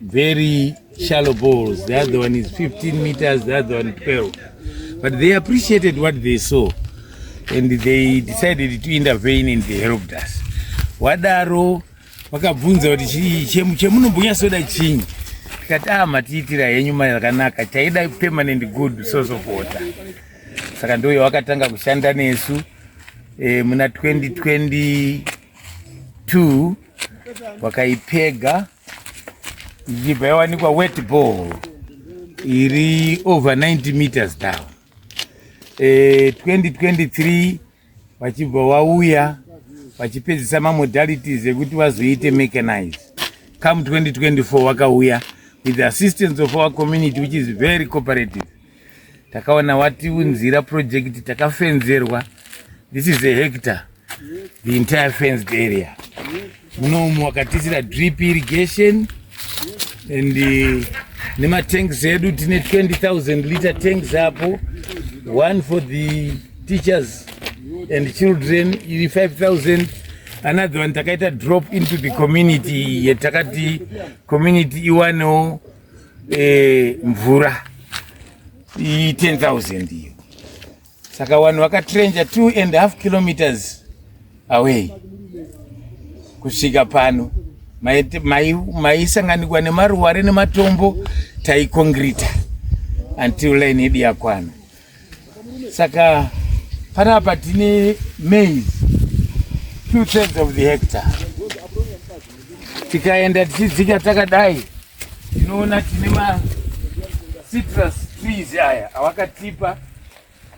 very shallow balls. The other one is 15 meters, the other one 12. But they appreciated what they saw and they decided to intervene and they helped us. Wadaro vakabvunza kuti chemunombunya soda chinyi tikati ah matiitira henyu mari yakanaka taida permanent good source of water saka ndoyo wakatanga kushanda nesu e, muna 2022 wakaipega ichibva yawanikwa wet ball iri over 90 meters down e, 2023 vachibva wauya vachipedzisa mamodalities ekuti vazoite mechanize come 2024 wakauya with the assistance of our community which is very cooperative takaona watiunzira project takafenzerwa this is a hector the entire fenced area munomu wakatiisira drip irrigation and uh, nematanks edu tine 20000 liter tanks apo one for the teachers and children iri 5000 another one takaita drop into the community yetakati community iwanewo eh, mvura iyi 10000 iyo saka vanhu vakatrenja 2 and half kilometers away kusvika pano maisanganikwa mai, mai nemaruware nematombo taikongrita until line yedu yakwana saka panapa tine maize two thirds of the hectare tikaenda tichidzika takadai tinoona tine ma citrus trees aya awakatipa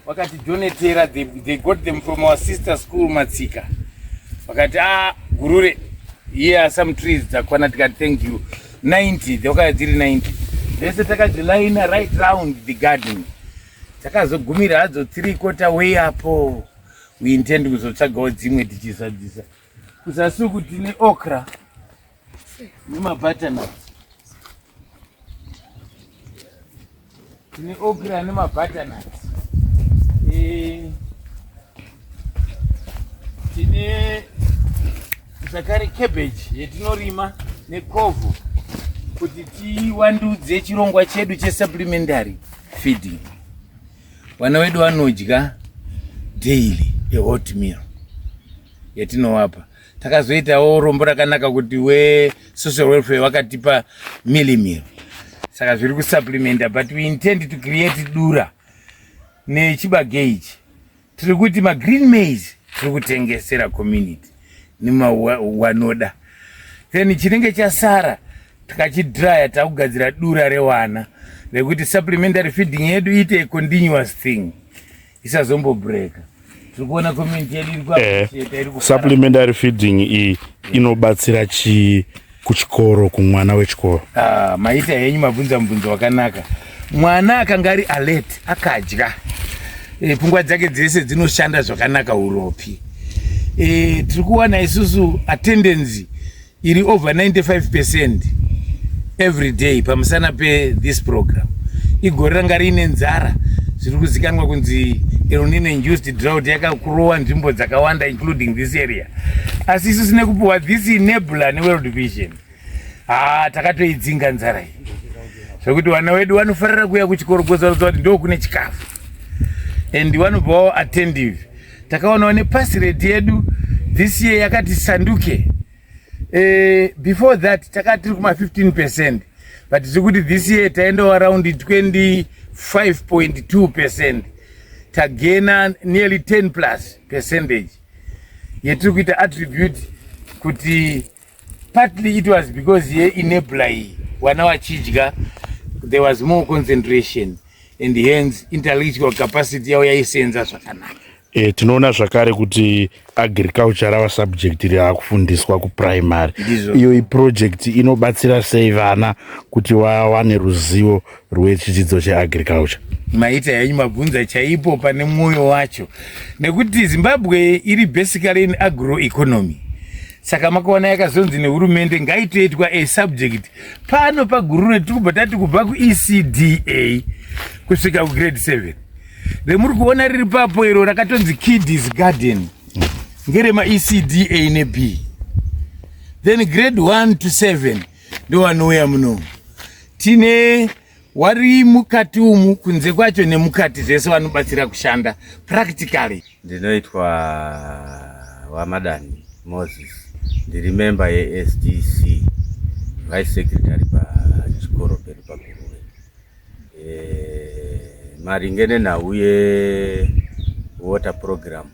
wakatidonetera they, they got them from our sister school matsika vakati a ah, gurure here are some trees dzakwana tikati thank you 90 dzakauya dziri 90 dzese takadzilaina right round the garden dzakazogumira hadzo three quarter way apo we intend kuzotsvagawo dzimwe tichizadzisa kuzasuku tine okra nemabutternut Tine okra nemabutternut. Eh, tine zvakare cabbage yetinorima nekovho kuti tiwandudze chirongwa chedu chesupplementary feeding. Vana wedu vanodya daily a hot meal yatinovapa. takazoitawo rombo rakanaka kuti we social welfare vakatipa milimiro saka zviri kusupplementa but we intend to create dura nechibage ichi tiri kuti magreen maize tiri kutengesera community nemawanoda then chinenge chasara tikachidraya takugadzira dura rewana rekuti supplementary feeding yedu iite continuous thing isazombobreaker tirikuona community yedu iri eh, supplementary feeding iyi inobatsira chii kuchikoro kumwana wechikoro ah, maita henyu mabvunza mubvunzo wakanaka mwana akanga ari alert akadya e, pfungwa dzake dzese dzinoshanda zvakanaka uropi e, tiri kuwana isusu attendancy iri over 95 percent every day pamusana pethis program igore ranga riine nzara zviri kuzikanwa kunzi elnino induced drought yakakurowa nzvimbo dzakawanda including this area asi isu sine kupiwa this nebula neworld vision haa takatoidzinga nzara iyi zvekuti vana wedu vanofarira kuuya kuchikoro kuzoratidza kuti ndo kune chikafu and vanobvawo attentive takaonawo nepasi redi yedu this year yakati sanduke eh, before that takati tiri kuma 15 percent but tiri kuti this year taendawo around 25.2 percent tagena nearly 10 plus percentage yetiri kuita attribute kuti partly it was because ye enabler iyi vana vachidya there was more concentration and hence intellectual capacity yavo yaisenza zvakanaka E, tinoona zvakare kuti agriculture rava subject riakufundiswa kuprimary iyo iproject inobatsira sei vana kuti vawane ruzivo rwechidzidzo cheagriculture maita henyu mabvunza chaipo pane mwoyo wacho nekuti zimbabwe iri basically in agroeconomy saka makaona yakazonzi nehurumende ngaitoitwa a subject pano pagurure tiri kubva tati kubva kuecda kusvika kugrade 7 remuri kuona riri papo iro rakatonzi kidis garden ngeremaecda neb then grade 1 to 7 ndowanouya muno tine wari mukati umu kunze kwacho nemukati zvese vanobatsira kushanda practically ndinoitwa wamadani moses ndiri memba yesdc vice secretary pachikoro pedu paguruve e, eh, maringe nenhau yewater program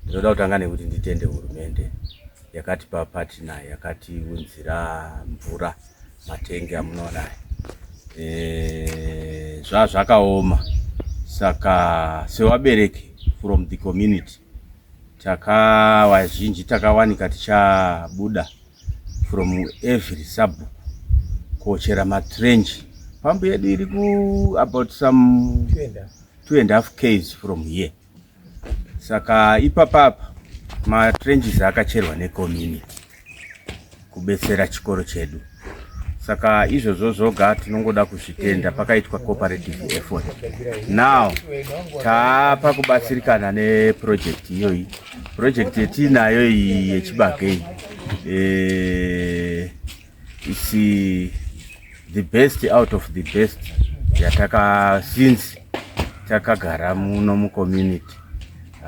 ndinoda kutanga nekuti nditende hurumende yakatipa patina yakatiunzira mvura Matenge amunoona aya eh, zvazvakaoma saka sevabereki from the community takavazhinji takawanika tichabuda from every sabhuku kochera matrenji pambu yedu iri ku about some two and half ks from here saka ipapapa matrenges akacherwa necommunity kubetsera chikoro chedu saka izvozvo zvoga tinongoda kuzvitenda pakaitwa cooperative effort now taapa kubatsirikana neproject iyoyi project yetiinayo iyi yechibagei e, It's uh, the best out of the best yataka since takagara muno mucommunity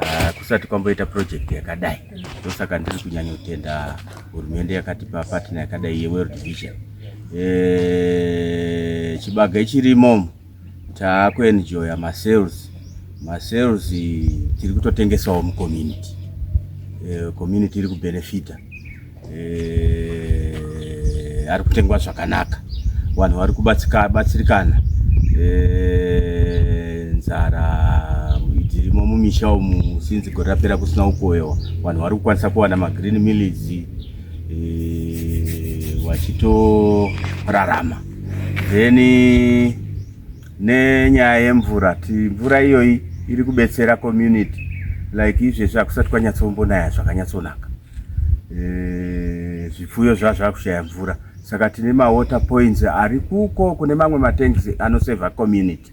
uh, kusati kwamboita project yakadai ndosaka ndiri kunyanya kutenda hurumende yakatipa partner yakadai yeworld vision e, chibage chirimo taakuenjoya masales masales tiri kutotengesawo mucommunity e, community iri kubenefita eh, ari kutengwa zvakanaka vanhu vari kubatsirikana eh, nzara dzirimo mumisha umu sinzi gore rapera kusina ukoyo vanhu vari kukwanisa kuwana magreen mills eh, vachitorarama then nenyaya yemvura ti mvura iyoyi iri kubetsera community like izvezvi hakusati kwanyatsombo naya zvakanyatsonaka eh, zvipfuyo zva zvakushaya mvura saka tine mawater points ari kuko kune mamwe matanks anoseva community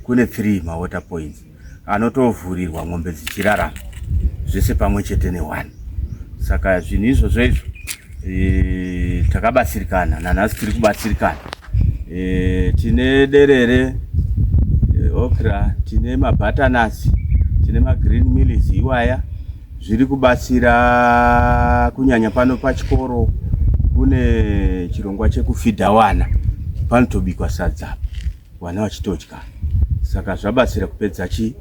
kune three mawater points anotovhurirwa mombe dzichirarama zvese pamwe chete newani saka zvinhu izvozvo izvo e, takabatsirikana nanhasi tiri kubatsirikana e, tine derere e, okra tine mabatanasi tine magreen millis iwaya Zviri kubatsira kunyanya pano pachikoro kune chirongwa chekufidha wana panotobikwa sadza wana vachitodya saka zvabatsira kupedza chi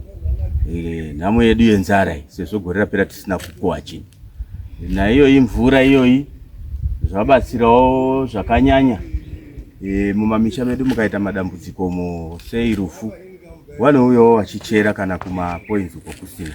e, nhamo yedu yenzara iyi sezvo gore rapera tisina kukoha chinhu naiyoyi mvura iyoyi zvabatsirawo zvakanyanya e, mumamisha medu mukaita madambudziko mo sei rufu vanouyawo vachichera kana kumapoinzi uko kusina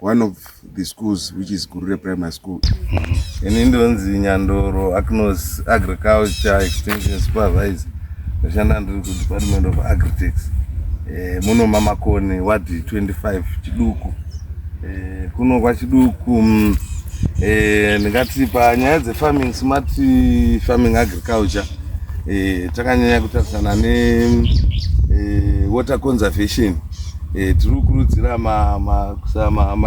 one of the schools which is gurure primary school ini ndonzi nyandoro acnos agriculture extension supervisor ndoshanda ndiri kudepartment of agritex eh, muno mamakoni ward 25 chiduku eh, kuno kwachiduku mm, eh, ndingati panyaya dzefarming smart farming agriculture takanyanya kutarisana newater conservation Eh, tiri kukurudzira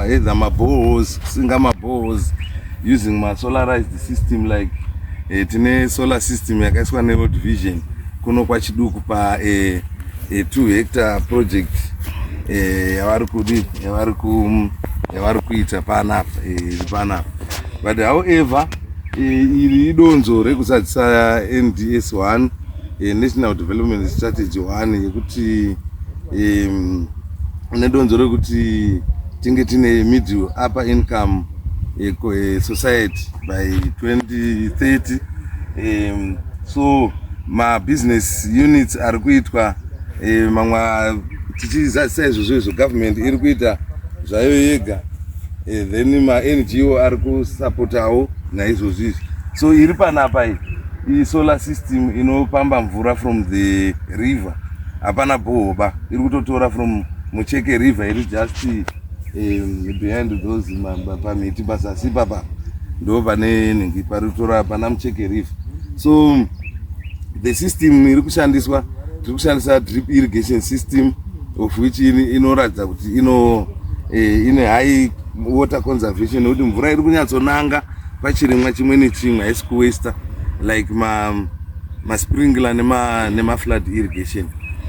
either mabohos kusinga mabohos using masolarized system like eh, tine solar system yakaiswa neworld vision kuno kwachiduku pa eh, eh, two hectare project eh, yavari kudi yavari ku yavari kuita panapa eh, iri panapa but however eh, iri idonzo rekuzadzisa nds 1 e, national development strategy one yekuti e, nedonzo rekuti tinge tine middle upper income e, e, society by 2030 e, so mabusiness units ari kuitwa e, mamwe tichizadzisa izvozvo izvo government iri kuita zvayo yega e, then mango ari kusapotawo naizvozvo izvi so iri panapa iyi Iyi solar system inopamba mvura from the river hapana bhohoba iri kutotora from mucheke river iri just um, behind those pamiti pazasi papa ndo pane nhingi pari kutora pana mucheke river so the system iri kushandiswa tiri kushandisa drip irrigation system of which inoratidza kuti ino eh, ine high water conservation nekuti mvura iri kunyatsonanga pachirimwa chimwe nechimwe haisi kuwaster like ma, ma sprinkler nema, nema flood irrigation